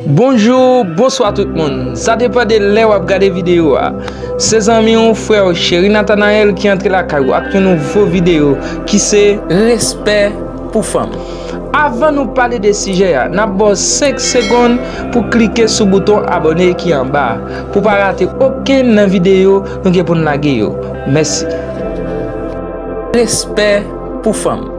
Bonjour, bonsoir tout moun. Sa depan de lè wap gade video a. Se zanmi ou, frè ou Chery Nathanael ki antre lakay ou ak yon nouvo video ki se Respè pou fanm. Avan nou pale de sijè a, nap ba w 5 segonn pou klike sou bouton abone ki anba a, pou pa rate okenn nan video nou gen pou n lage yo. Mèsi. Respè pou fanm.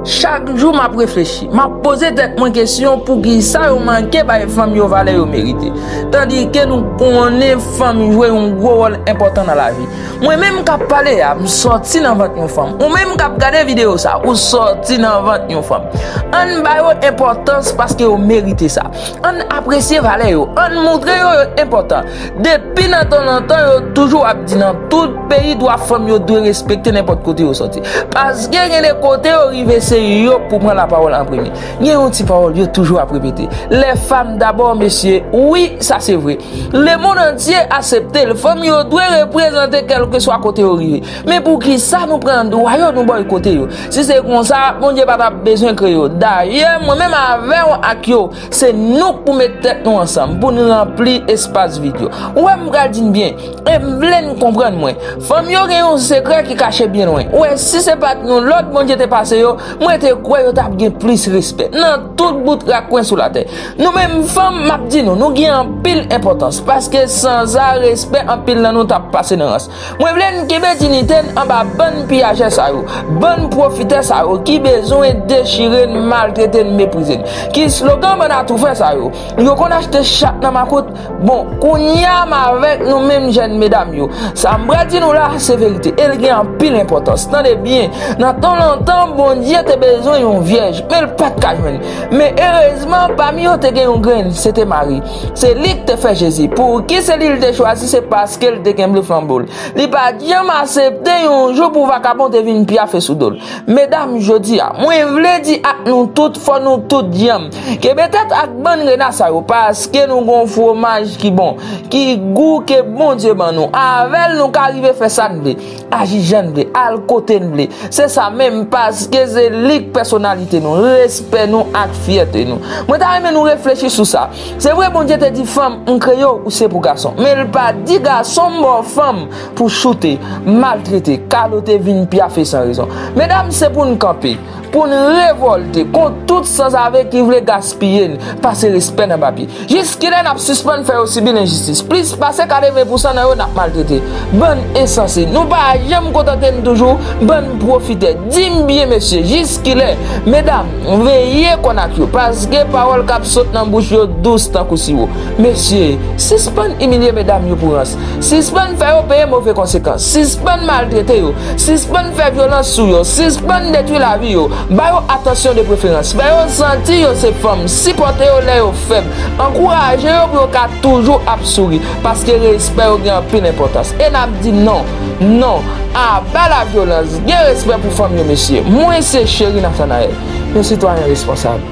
Chak jou map reflechi, map poze tèt mwen kesyon poukisa yo manke bay fanm yo valè yo merite. Tandike nou konnen fanm jwe yon gwo wòl enpòtan nan lavi. Mwen menm kap pale a, m sòti nan vant yon fanm. Ou menm kap gade videyo sa, ou sòti nan vant yon fanm. Ann ba yo enpòtans paske yo merite sa. Ann apresye valè yo, ann montre yo yo enpòtan. Depi nan tan nan tan yo toujou ap di nan tout peyi dwa fanm yo dwe respekte nenpòt kote yo sòti. Paske gen de kote yo rive se yo k pou pran lapawòl an premye. Gen yon ti pawòl yo toujou ap repete, lè fam dabò mesye, wi sa se vre. Lemonn antye asepte l, fanm yo dwe reprezante kèlkeswa kote yo rive. Men poukisa nou pran dwa yo nou bòykote yo. Si se konsa Bondye pa t ap bezwen kreye yo. Dayè mwen menm avè w ak yo Se nou k pou met tèt nou ansanm pou n ranpli espas vid yo. Ou wè m pral di n byen, e m vle n konprann mwen. Fanm yo gen yon sekrè ki kache byen lwen. Ou wè, si se pa t yon lòd Bondye te pase yo, mwen te kwè yo t ap gen plis respè. Nan tout bout rak kwen sou latè. Nou menm fanm, m ap di nou, nou gen anpil enpòtans. Paske sanza respè anpil nan nou t ap pase nan rans. Mwen vle n kenbe dinite n anba bann piyajè sa yo, bann pwofitè sa yo ki bezwen dechire n, maltrete n, meprize n. Ki slogan bann atoufè sa yo? Yo konn achte chat nan makout? Bon, kounye a m avèk nou menm jèn medam yo. Sa m pral di nou la, se verite e l gen anpil enpòtans. Tande byen, nan tan lontan, Bondye te bezwen yon vyèj, men l pa t ka jwenn. Men erezman, pami yo te gen yon grenn, se te Mari. Se li ki te fè Jezi. Pouki se li li te chwazi se paske li te kenbe flanbo l. Li pa t janm asepte yon jou pou vakabon te vin pyafe sou do l. Medam, jodi a, mwen vle di ak nou tout fò nou tout dyanm, kenbe tèt ak bann rena sa yo paske nou gon fwomaj ki bon, ki gou ke Bondye ban nou. Avè l nou ka rive fè sa n vle. Aji jan n vle, al kote n vle. Se sa menm, paske se li k pèsonalite nou, respè nou ak fyète nou. Mwen ta renmen nou reflechi sou sa. Se vre Bondye te di fanm, m kreye w, ou se pou gason. Men l pa di gason, m ba w fanm pou choute, maltrete, kalote vin pyafe san rezon. Medam, se pou n kanpe. Pou n revòlte kont tout sanzave ki vle gaspiye n, pase respè n anba pye. Jiskilè n ap sispann fè yo sibi lenjistis? Plis pase 80 pousan nan yo n ap maltrete. Bann ensanse! Nou pa janm kontante n toujou? Bann pwofitè! Di m byen mesye, jiskilè? Medam, veye kò n ak yo, paske pawòl k ap sot nan bouch yo dous tankou siwo. Mesye, sispann imilye medam yo pou rans. Sispann fè yo peye move konsekans. Sispann maltrete yo. Sispann fè vyolans sou yo. Sispann detwi lavi yo. Ba yo atansyon de preferans. Fè yo santi yo se fanm. Sipòte yo lè yo fèb. Ankouraje yo pou yo ka toujou ap souri. Paske respè yo gen anpil enpòtans. E n ap di non! Non! Aba lavyolans! Gen respè pou fanm yo mesye. Mwen se Chery Nathanaël. Yon sitwayen responsab.